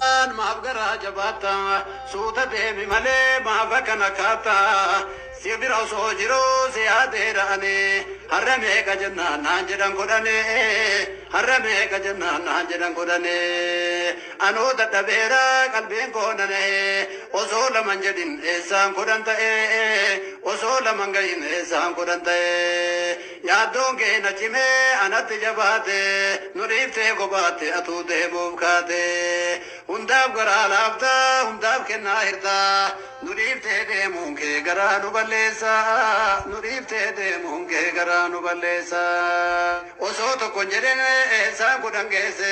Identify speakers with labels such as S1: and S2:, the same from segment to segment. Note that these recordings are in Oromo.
S1: Kaan maaf garaa jabaatta suuta deemi malee maaf akkana kaatta si bira osoo jiruu si yaadeera ani har'a meeqa jennaan naan jedhan kudhani har'a meeqa jennaan naan jedhan kudhani anuu dadhabeera qalbiin koo na nahe osoo laman jedhin eessaan kudhan ta'e osoo laman gahin eessaan kudhan ta'e. Yaaddoon kee na cimee anatti jabaate Nu dhiiftee kophaatti atuu deemuuf kaate Hundaaf garaa laafta hundaaf kennaa hirta Nu dhiiftee deemuun kee garaa nu balleessa Nu dhiiftee deemuun kee garaa nu balleessa Osoo tokkon jedhin eessaan kudhan geesse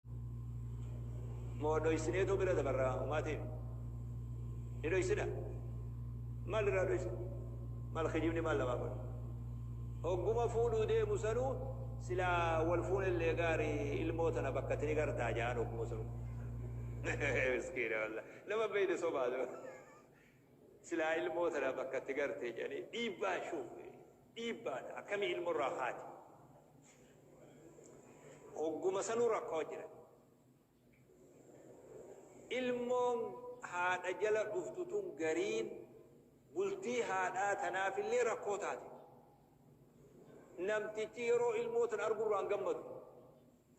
S2: moo dhoysinee too bira dabarraa umaa ta'e ni dhoysina maal irraa dhoysina maal kijibni maal lamaa kun hogguma fuudhuu deemu sanuu silaa wal fuun illee gaarii ilmoo tana bakka tini gartaa jaan hogguma sanuu miskiina walla nama beeyne sobaa dura Silaa ilmoo tana bakka itti garte jedhanii dhiibbaan shuuf dhiibbaadha akkamii ilmoo irraa kaate. Hogguma sanuu rakkoo jira. Ilmoon haadha jala dhuftu tun gariin bultii haadhaa tanaaf illee rakkoo taate. Namtichi yeroo ilmoo tana argurraan gammadu.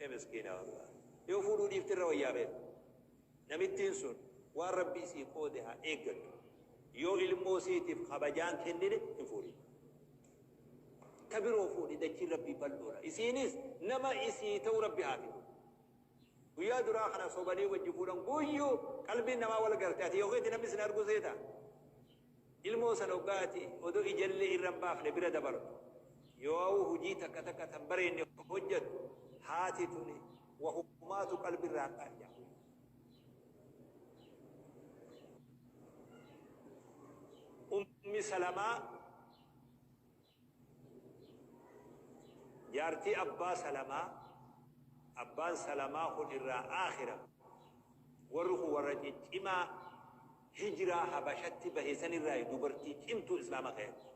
S2: Ee miskiina wallah. Yoo fuudhuu dhiifte irra wayyaa beeku. Namittiin sun waan Rabbii sii qoode haa eeggattu. Yoo ilmoo siitiif kabajaa hin kennine hin fuudhin. Ta biroo fuudhi dachiin Rabbii bal'oodha. Isiinis nama isii ta'u Rabbi haa fidu. Guyyaa duraa kana sobanii wajji fuudhan guyyuu qalbiin namaa wal garte ati yoo keeti namni sin arguu seeta? Ilmoo san hoggaa ati odoo ijallee irra hin baafne bira dabartu, yooawuu hujii takka takka tan bareenne hojjattu, haati tuni wahumaatu qalbi irraa hin qaanja'u. Ummi Salamaa. Jaartii Abbaa Salamaa Abbaan Salamaa kun irraa aakhira Warri kun warra ciccimaa Hijraa Habashatti bahe san irraayi dubartii cimtuu Islaama kheeyatti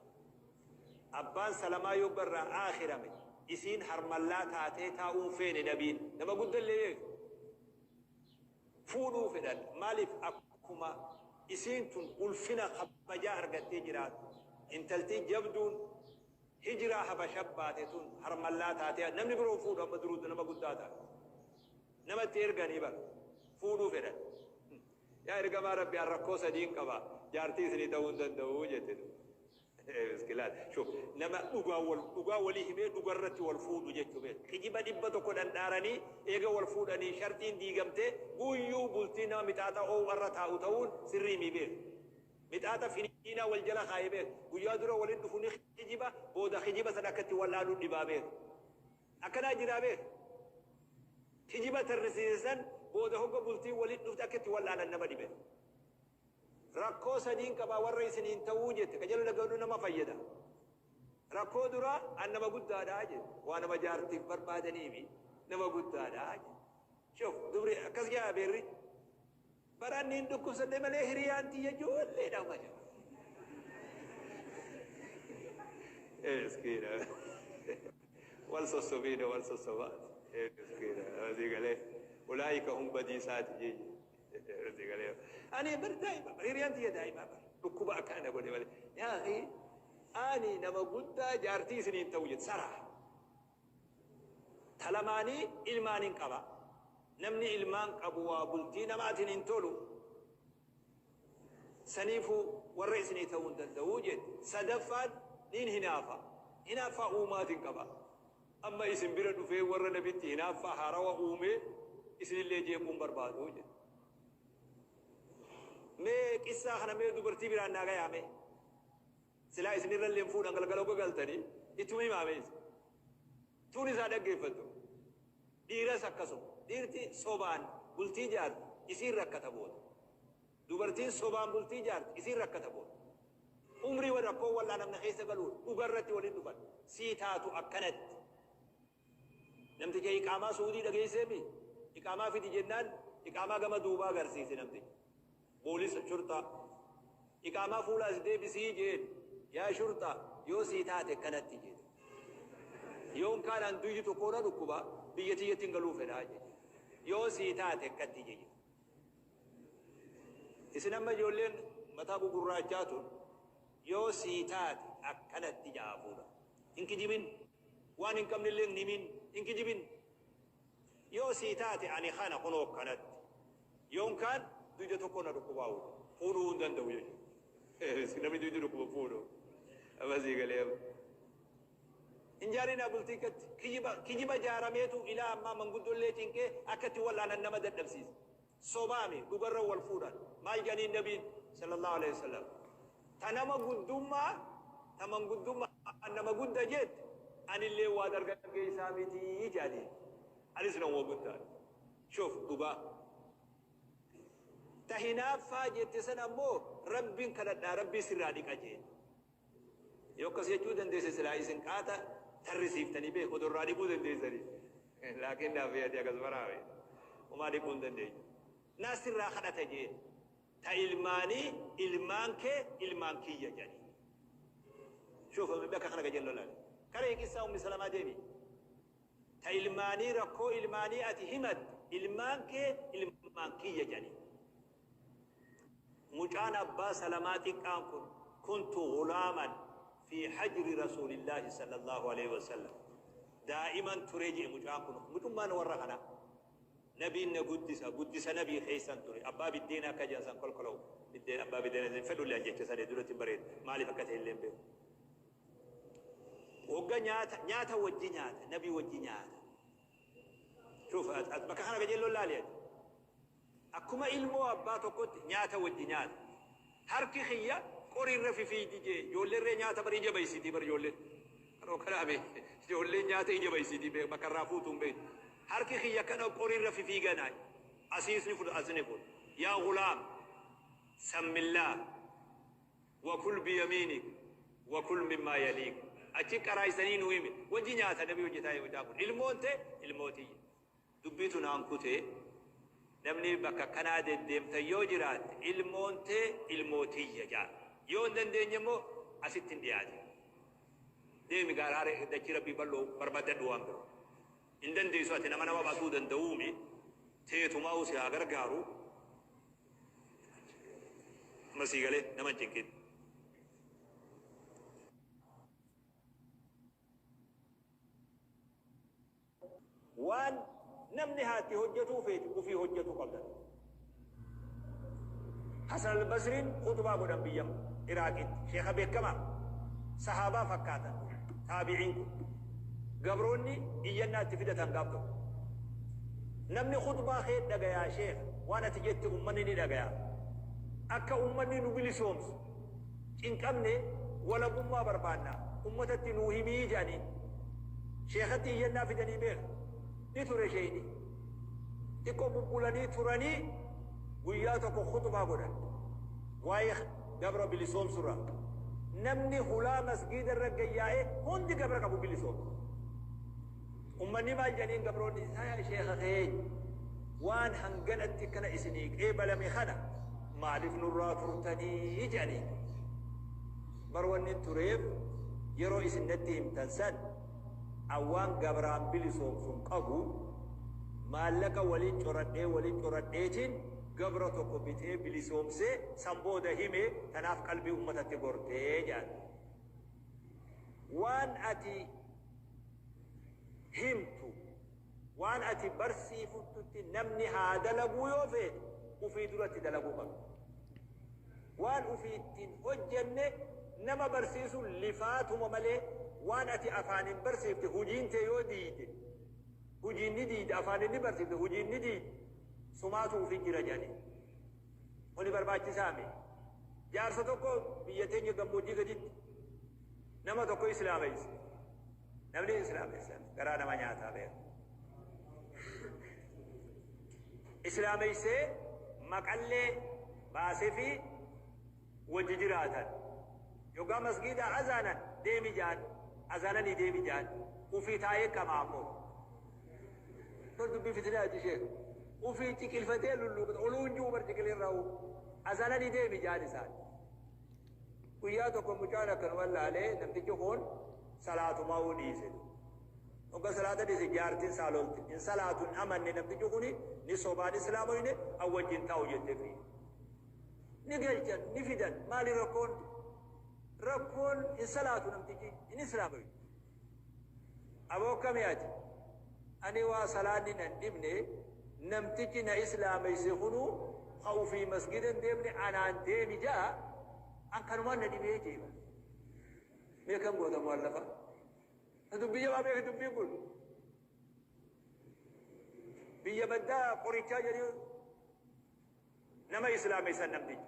S2: Abbaan Salamaa yogga irraa aakhirame isiin harmallaa taatee taa'uu hin feene Nabiin nama gudda illee beektu fuudhuu fedhan maalif akkuma isiin tun ulfina kabajaa argattee jiraattu intaltii jabduun hijraa habasha baate tun harmallaa taatee namni biroo hin fuudhu amma duruu nama guddaa taate nama itti erganii bar fuudhuu fedhan yaa ergamaa rabbi an rakkoo sadiin qaba jaartii isinii ta'uu hin danda'u jette duuba Miskilaata shuf nama dhugaa wal dhugaa walii himee dhugarratti wal fuudhu jechu beek kijiba dhibba tokko dhandhaaranii eega wal fuudhanii sharxiin diigamtee guyyuu bultii nama mixaaxa oow'arra taa'u ta'uun sirrii mii beek mixaaxa finiinaa wal jala kaaye beek guyyaa dura walin dhufu ni kijiba booda kijiba san akka itti wal'aanuu dhibaa beek akkanaa jiraa beek kijiba tarrisiise san booda hogga bultiin walin dhufte akka itti wal'aanan nama dhibe. Rakkoo sadiin qaba warra isiniin ta'uu jette ka jala lagalu nama fayyada. Rakkoo duraa an nama guddaadha jedhe. Waa nama jaartiif barbaadaniifi nama guddaadha jedhe. Shuf dubri akkas jedha beerri. Bara inni hin dhukkubsadhe malee hiriyaan tiyya ijoolleedha malee. Miskiina. Wal sossobiidha wal sossobaa. Miskiina. Asii galee ulaa'ika hum badiisaati jeeje. Irratti galee ani bar daa'ima bar hiriyaan tiyya daa'ima bar dhukkuba akka ana godhe malee yaa akhi ani nama guddaa jaartii isiniin ta'u jette saraa talamaanii ilmaan hin qaba namni ilmaan qabu waa bultii namaatiin hin tolu saniifuu warra isinii ta'uu hin danda'uu jette sadaffaan niin hinaafa hinaaffaa uumaatiin qaba Amma isin bira dhufee warra nabitti hinaaffaa haarawa uumee isinillee jeequu hin barbaadu jedhe. Mee qissaa kana mee dubartii biraan naa gayaa mee. Silaa isin irrallee hin fuudhan galgala oga galtanii ittuma himaa mee isin. Tuunis haa dhaggeeffattu. Dhiiras akkasuma. Dhiirti sobaan bultii jaarti isiin rakkata booda. Dubartiin sobaan bultii ijaarte isiin rakkata boor. Umrii wal rakkoon wal'aanamne keessa galuun dhuga irratti waliin dhufan. Sii taatu akkanatti. Namticha iqaamaa su'udii dhageessee mii? Iqaamaa fidi jennaan iqaamaa gama duubaa garsiise namtichi. Boolisa, shurxaa. Iqaamaa fuula as deebisii jeen. Yaa shurxaa yoo sii taate akkanatti jeen. Yoon kaan an duyyi tokkoo na dhukkuba biyya tiyyattin galuu fedhaa jeen. Yoo sii taate akkatti jeen. Isin amma ijoolleen mataa gugurraachaa tun yoo sii taate akkanatti ja'a fuudha. Hin kijibin. Waan hin qabnellee hin himin. Hin kijibin. Yoo sii taate ani kana kunoo akkanatti. Yoon kaan duyda tokko na dhukkubaa fuudha. Fuudhuu hin danda'u jechuudha. Namni duydi dhukkuba fuudhu. Amma sii galee amma. Hin jaarinaa bultii akkatti. Kijiba, kijiba jaarameetu ilaa ammaa manguddollee cinqee akkatti wal'aanan nama dadhabsiisa. Sobaami dhugarra wal fuudhan. Maal janiin nabiin sallallahu aleyh wasallam ta nama guddumma ta manguddumma an nama gudda jette anilleen waa dargaggeeysaa mitii jaaniin. Anis namuma guddaadha. Shuf dhugaa. Ta hinaaffaa jette san ammoo Rabbin kadhadhaa Rabbii sirraa dhiqa jeen. Yoo akkas jechuu dandeesse silaa isin qaata tarrisiiftanii beeku odoo irraa dhiquu dandeessanii. Laakiin naafee ati akas baraawe. Umaa dhiquu hin dandeenyu. Naa sirraa kadhata jeen. Ta ilmaanii ilmaan kee ilmaan kiyya jedhanii. Shuuf amma bakka kana gajeelloo laale. Kana hiikissaa ummi salamaa deemi. Ta ilmaanii rakkoo ilmaanii ati himatte ilmaan kee ilmaan kiyya jedhanii. Mucaan abbaa salamaa xiqqaan kun kuntu ghulaaman fi hajri rasuulillaahi sallallaahu aleyhi wasallam daa'iman ture je'e mucaan kun mucummaan warra kanaa nabiin na guddisa guddisa nabii keessan ture abbaa biddeena akka je'an san kolkolow biddeen abbaa biddeena hin fedhullee an jecha sadee duratti hin bareedu maaliif akka ta'e illee hin beeku hogga nyaata nyaata wajji nyaata nabii wajji nyaata shuuf bakka kana qajeelloon laali ati Akkuma ilmoo abbaa tokkotti nyaata wajji nyaata. Harki kiyya qori irra fifiidi jee ijoolleen ree nyaata bar ija baysitii bar ijoolleen. Maroo kanaa mee ijoolleen nyaata ija baysitii mee bakka irraa fuutu hin beeytu. Harki kiyya akkana qori irra fifiiganaa asiis ni fudha as ni fuudha. Yaa gulaam sammillaah wa kul biyamiinik wa kul mimmaa yaliik. Achi qaraaysanii nuu himi. Wajji nyaata nabi hojjetaa yoomitaa kun. Ilmoon tee ilmoo tiyya. Dubbiitu naan kute namni bakka akkanaa deddeemtan yoo jiraatte ilmoon tee ilmoo tiyya jaa yoo hin dandeenye immoo asitti hin dhiyaatin deemi gaara hare dachii rabbii bal'oo barbaaddadhu waan biroo hin dandeessu ati nama nama baasuu danda'uumi teetumaa'u si haa gargaaru amma sii galee nama hin cinqin Waan namni haatti hojjatuu feetu ufii hojjatu qabda. Hasan Al-Basriin khutbaa godhan biyya Iraaqitti. Sheekha beekkamaa. Sahaabaa fakkaatan taabi'iin kun. Gabroonni iyyannaa itti fidatan gaaf tokko. Namni khutbaa kee dhagayaa sheekha. Waan ati jette ummanni ni dhagayaa. Akka ummanni nu bilisoomsu. cinqamne walabummaa barbaanna ummatatti nuu himii jedhaniin. Sheekhatti iyyannaa fidanii beeka. Ni ture sheeyni. Xiqqoo bubbulanii turanii guyyaa tokko khutbaa godhan. Waa'ee gabra bilisoomsurra. Namni hulaa masgiida irra gayyaa'ee hundi gabra qabu bilisoomse. Ummanni maal jedhaniin gabroonni isaa yaa sheekha keenya waan hanganatti kana isinii qeebalame kana maaliif nurraa turtanii jedhaniin. Bar wanni tureef yeroo isin natti himtan san an waan gabraan bilisoomsun qabu maallaqa waliin coradhee waliin coradheetiin gabra tokko bitee bilisoomsee san booda hime tanaaf qalbii ummatatti gortee jedhan. Waan ati himtu waan ati barsiifuttutti namni haa dalaguu yoo feete ufii duratti dalaguu qabda. Waan ufii ittiin hojjenne nama barsiisuun lifaatuma malee waan ati afaaniin barsiifte hujiin tee yoo diide hujiin ni diide afaaniin ni barsiifte hujiin ni diide sumaatu ufii jira jedhanii. Kuni barbaachisaa mee? Jaarsa tokko biyya teenya gammoojjii gaditti Nama tokko islaameyse. Namni islaameysan garaa nama nyaataa beeku. Islaameysee maqallee baasefii wajji jiraatan. Yogaa masgiidaa azaanan deemi jaan azaananii deemi jaan ufii taa'ee qamaa ammoo. Kun dubbii fitinaati sheekh. Ufii ciqilfatee lulluuqata. Oluu hin jiru bar ciqilee irraa uu. Azaananii deemi jaan isaan. Guyyaa tokko mucaan akkanuma laalee namtichi kun salaatumaa'uu dhiise. Hogga salaata dhiise jaartiin isaa lolte. Hin salaatu hin amanne namtichi kun ni sobaan islaamoyne an wajjin taa'u jettefi. Ni galchan ni fidan maali rakkoon? Rakkoon hin salaatu namtichi hin islaamoyne. Aboo kami ati? Ani waa salaanni nan dhibne namtichi na islaameyse kunu ka ufii masgida hin deemne anaan deemi ja'a an kanumaan na dhibee jee bar. Mee akkam goota mu'allafa? Ta dubbii jabaa beeki dubbiin kun. Biyya baddaa qorichaa jedhee nama islaameysan namtichi.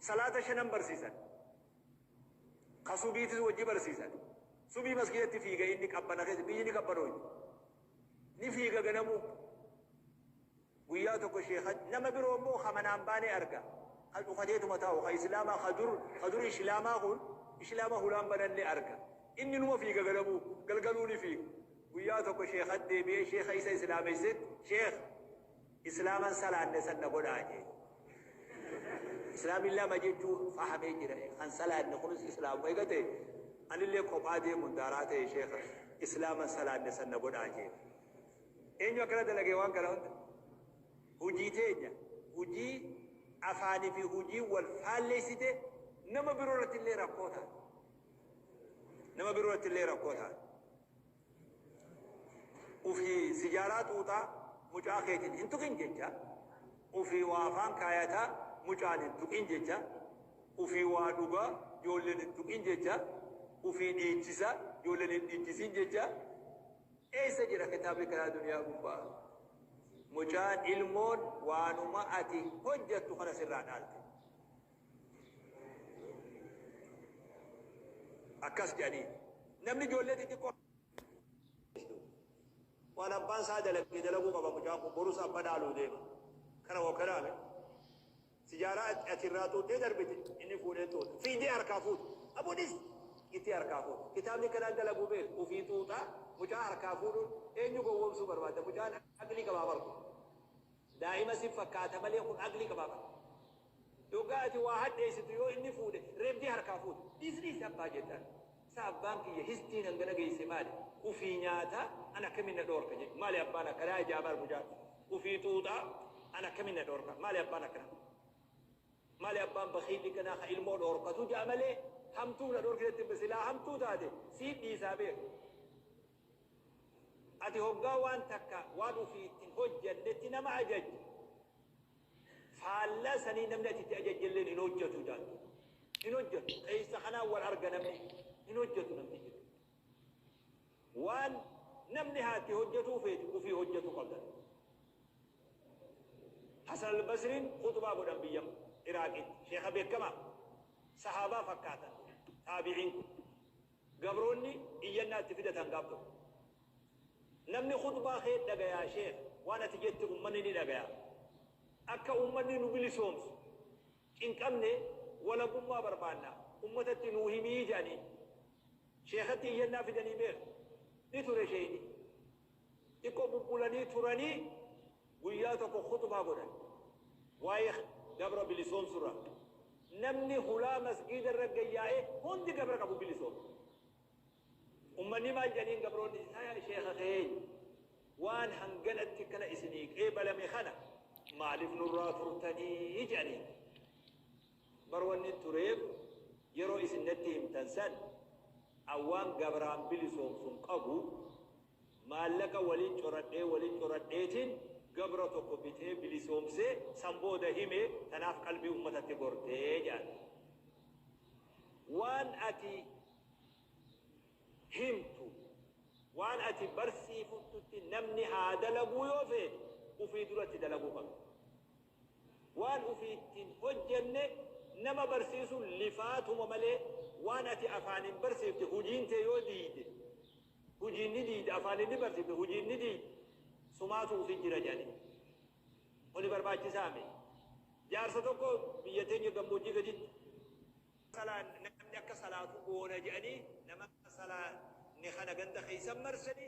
S2: Salaata shanan barsiisan. Ka subiitis wajji barsiisani. Subii maskiidatti fiiga inni qabbana keessa biyyi ni qabbanooydi. Ni fiiga ganamuu. Guyyaa tokko sheekha nama biroo immoo ka manaan baanee arga. Ka cufateetuma taa'u ka islaamaa ka dur ka dur islaamaa kun islaama hulaan bananne arga. Inni numa fiiga ganamuu galgaluu ni fiiga. Guyyaa tokko sheekhatti deebi'ee sheekha isa islaameysetti sheekh! Islaama hin salaanne san na godhaa jee. Islaamni lama jechuu fahamee jira. Kan salaanne kunis Islaamuma eega ta'e anillee kophaa deemuun daaraa ta'e sheekha Islaama hin salaanne san na godhaa jee. Eenyu akkana dalage waan kana hunda? Hujii teenya hujii afaanii fi hujii wal faalleessite nama biroo irratti illee rakkoo taate. Nama biroo irratti illee rakkoo taate. ufi sijaraa xuuxaa mucaa keetin hin tuqin jecha ufi waa afaan kaayataa mucaan hin tuqin jecha ufi waa dhugaa joolleen hin tuqin jecha ufi dhiichisa joolleen hin dhiichisin jecha eessa jira kitaabni kanaa duniyaa gubbaa mucaan ilmoon waanuma ati hojjattu kana sirraa dhaalte akkas jedhanii namni ijoollee xixiqqoo waan abbaan isaa dalagee dalaguu qaba mucaan kun borus abba dhaaluu deema kana hoo kanaame sijaaraa ati- ati irraa xuuxee darbite inni fuudhee xuuxa fiidee harkaa fuutu abunis itti harkaa fuutu kitaabni kanaan dalaguu beeku ofii xuuxaa mucaa harkaa fuudhuun eenyu gowwoomsuu barbaada mucaan aqlii qabaa barku daa'ima si fakkaata malee kun aqlii qabaa barku Dhugaa ati waa hadheessitu yoo inni fuudhe reebdee harkaa fuuta. Dhiisi dhiisi abbaa jettaan. Isaa abbaan kiyya histiin hangana geesse maali? Ufii nyaata an akkamiin na dhoorka jedhi. Maali abbaan akkanaa ijaa baar mucaan. Ufii xuuxa an akkamiin na dhoorka. Maali abbaan akkanaa. Maali abbaan bakiilli kanaa ka ilmoo dhoorkatu ja'a malee hamtuuf na dhoorkitetti silaa hamtuu taate siif dhiisaa beeka. Ati hoggaa waan takka waan ufii itti hin hojjannetti nama ajajju, faallaa sanii namni ati itti ajajjelleen hin hojjatu jaantu. Hin hojjatu. Qeeysa kanaan wal arga namni. Hin hojjatu namni jedhu. Waan namni haa itti hojjatuu feetu ufii hojjatu qabda. Hasan al-Basriin khutbaa godhan biyya Iraaqitti. Sheekha beekamaa. Sahaabaa fakkaatan. Taabiciin kun. Gabroonni iyyannaa itti fidatan gaaf tokko. Namni khuxbaa kee dhagayaa sheekh waan ati jette ummanni ni dhagaya. Akka ummanni nu bilisoomsu cinqamne walabummaa barbaanna ummatatti nuu himi jedhaniin. Sheekhatti iyyannaa fidanii beektu? Ni ture sheeyni. Xiqqoo bubbulanii turanii Guyyaa tokko khuxbaa godhan. Waa'ee gabra bilisoomsu irraa. Namni hulaa masgiida irra gayyaa'ee hundi gabra qabu bilisoome. Ummanni maal jedhaniin gabroonni yaa sheekha keenya waan hanganatti kana isinii qeebalame kana maaliif nurraa turtanii jedhaniin. Bar wanni tureef yeroo isin natti himtan san an waan gabraan bilisoomsun qabu Maallaqa waliin coradhee waliin coradheetiin gabra tokko bitee bilisoomsee san booda hime tanaaf qalbii ummatatti gorte jedhan. Waan ati himtu, waan ati barsiifuttutti namni haa dalaguu yoo feete ufii dura itti dalaguu qabda. Waan ufii itti hin hojjenne nama barsiisuun lifaatuma malee waan ati afaaniin barsiifte hujiin tee yoo diide Hujiin ni diydi afaanin ni barsifti hujiin ni diydi sumaatu ufi jira jedhani kuni barbaachisaa mi jaarsa tokko biyya teenya gammoojjii gaditti salaa namni akka salaatu goona jedhani nama salaanne kana ganda keessan marsani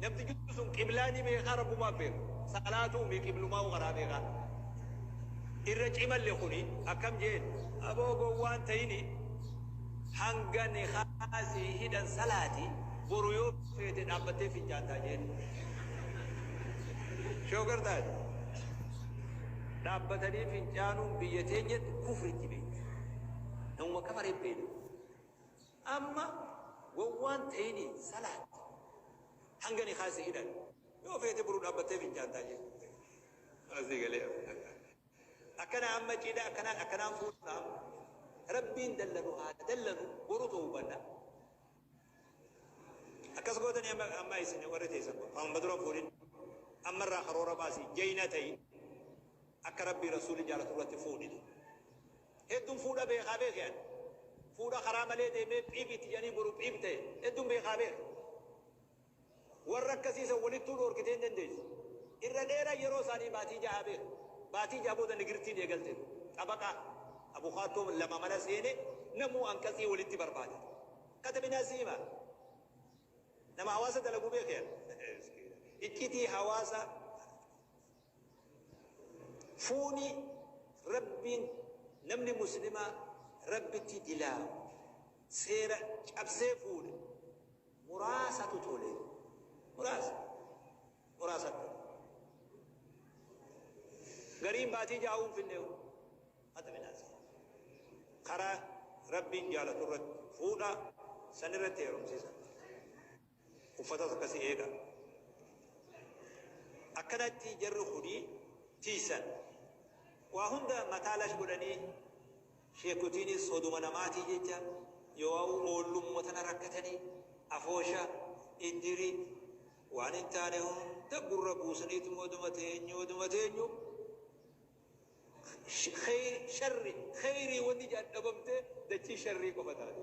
S2: Namtichi sun qiblaa ni beekaa rabbumaaf beeka. Salaatuu mii qiblumaa'uu karaa beekaa. Irra cimalle kuni akkam jeen aboo gowwaan ta'ini hanga nikaa sii hidhan salaati boru yoo feete dhaabbattee fincaantaa jeen. Shoogar taate. Dhaabbatanii fincaanuun biyya teenyatti kufritti beekti. Namuma kafaree beekti. Amma wawwaan tayini salaat hanga nikaa si hidhan yoo feete buru dhaabbattee fincaantaa jee amma sii galee akkana amma cidha akkanaan akkanaan fuudhna amma rabbiin dallanu haa dallanu boru ta'uu banna akkas gootanii amma amma isin warri teessan kun amma dura fuudhin amma irraa karoora baasi jayna tayi akka rabbii rasuuli jaalatu irratti fuudhina Heddun fuudha beekaa beeke ani. Fuudha karaa malee deemee phib itti jedhanii boru phib ta'e heddun beekaa beeka. Warra akkasii san walittuu dhoorkitee hin dandeessu. Irra dheeran yeroo isaanii baatii ja'aa beeka. Baatii ja'a booda nigirtiin eegalte. Xabaqaa, abukaattoo, lama mana seene namuu anqatsii walitti barbaada. Katabinaa sii hima. Nama hawaasa dalagu beeke ani. Iccitii hawaasa Fuuni Rabbiin namni Muslimaa Rabbitti dilaawu, seera cabsee fuudhe muraasatu tole. Muraasa. Muraasatu tole. Gariin baatii jaha hunfinneehu hata midhaasa. Karaa Rabbiin jaalatu irratti fuudha, san irratti heerumsiisa. Uffatas akkasi eega. Akkanatti jarri kuni tiysan. Waa hunda mataa lash godhanii sheekotiinis soduma namaatii jecha yowaa'u oollumma tana rakkatanii afoosha, iddiri, waan hin taane hunda gurra buusaniituma oduma teenyu oduma teenyu sharri kheyrii wanni jedhan dhabamtee dachii sharrii qofa taate.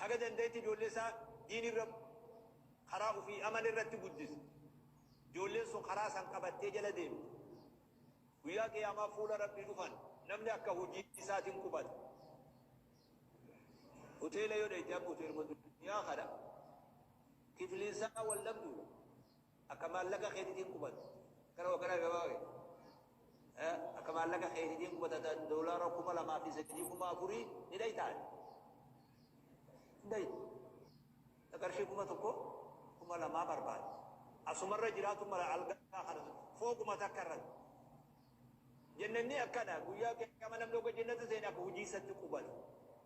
S2: Haga dandaetti ijoollee isaa diin irra karaa ufii amala irratti guddisa. Ijoolleen sun karaa san qabattee jala deemti. Guyyaa Qiyaamaa fuula Rabbii dhufan namni akka hujii isaatin qubata. Hoteela yoo dhayxe akka hoteeluma duniyaa kana kifliin isaa wal dhabduudha. Akka maallaqa keetitiin qubata. Kana wakana gabaa kee. Akka maallaqa keetitiin qubata ta doolaara kuma lamaa fi sadii kuma afurii ni dhaytaa? Hin dhaytu. Ta qarshii kuma tokko kuma lamaa barbaadda. Asumarra jiraatu mala algaa kana fooquma takka irratti. Jannanni akkana guyyaa qiyaama namni ogga jannata seene akka hujii isatti qubata.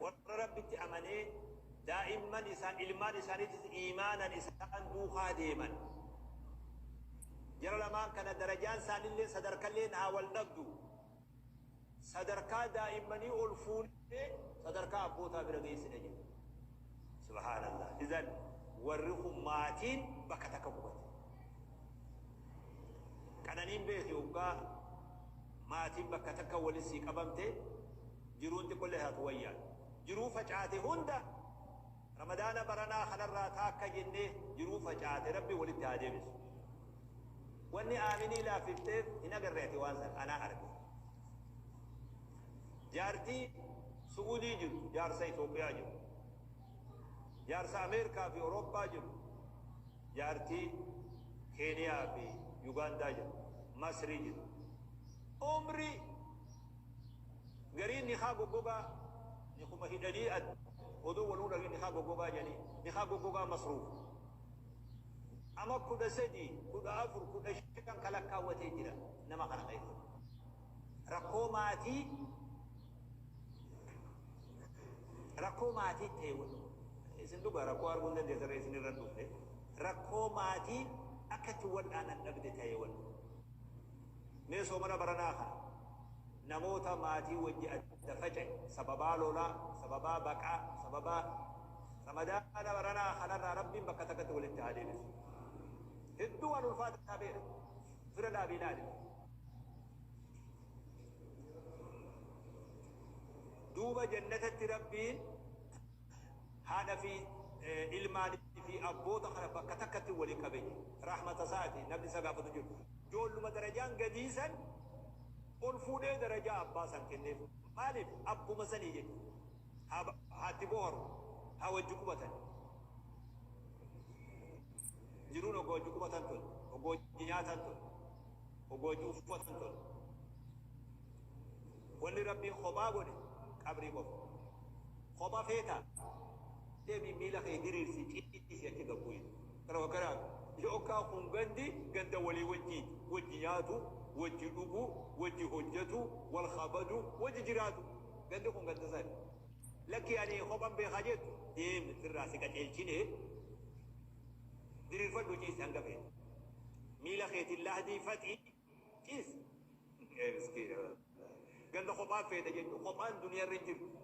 S2: Warra Rabbitti amanee daa'imman isaan, ilmaan isaaniitis iimaanan isaan duukaa deeman. Jara lamaan kana darajaan isaanilleen sadarkalleen haa wal dhabdu. Sadarkaa daa'immanii ol fuunee sadarkaa abbootaa bira geessina jedhe. Subhaanallaah. Izan warri kun maatiin bakka takka qubate. Qananiin beeki hoggaa maatiin bakka takka wali sii qabamte jiruun xiqqollee taatu wayya. Jiruu facaate hunda ramadaana baranaa kanarraa taakka jennee jiruu facaate rabbi walitti haa deebisu. Wanni Aaminii laaffifteef hin agarre ati waan san anaa arge. Jaartii su'udii jirtu jaarsa Itoophiyaa jiru. Jaarsa Ameerkaa fi Orooppaa jiru, jaartii Keeniyaa fi Yugaandaa jiru, Masrii jiru. Umri gariin nikaa goggogaa nikuma hidhanii adda odoo wal unagin nikaa goggogaa jedhanii nikaa goggogaa masruuf ama 13, 14, 15 ka lakkaawwatee jira nama kana keessa. Rakkoo maatii Rakkoo maatii ta'e isin dhugaa rakkoo arguu hin dandeessan ree isin irra dhufte rakkoo maatii akka itti wal'aanan dhabde ta'e wal mee soomana baranaa kana namoota maatii wajji adda faca'e sababaa lolaa sababaa baqaa sababaa ramadaana baranaa kanarraa rabbiin bakka takkatti walitti haa deebisu hedduu waan ulfaataa beera fira dhaabii ilaali duuba jannatatti rabbiin haadha fi ilmaan fi abboota kana bakka takkatti wali qabe rahmata isaati namni isa gaafatu jiru joolluma darajaan gadiisan ol fuudhee darajaa abbaa san kenneef maaliif abbuma sanii jedhu haatti booharu haa wajji qubatan jiruun ogoo wajji qubatan tun ogoo wajji nyaatan tun Oboo cuuffa san tole. Wanni Rabbiin kophaa godhe qabrii qofa. Kopha feetaa? Deemii miila kee diriirsi ciisi achi gad bu'i. Kana fakkataa yookaan kun gandi ganda walii wajjiiti. Wajji nyaatu, wajji dhugu, wajji hojjatu, wal kabadu, wajji jiraatu. Gandi kun ganda sani. Lakki ani kophan beekaa jettu deemi firraa si qaceelchinee. Diriirfadhu ciisi hanga feete. Miila keetiin lahdii faxii ciisi. Ee miskiina wallaahi. Ganda kophaa feete jechuun kophaan duniyaa irra hin jirtu.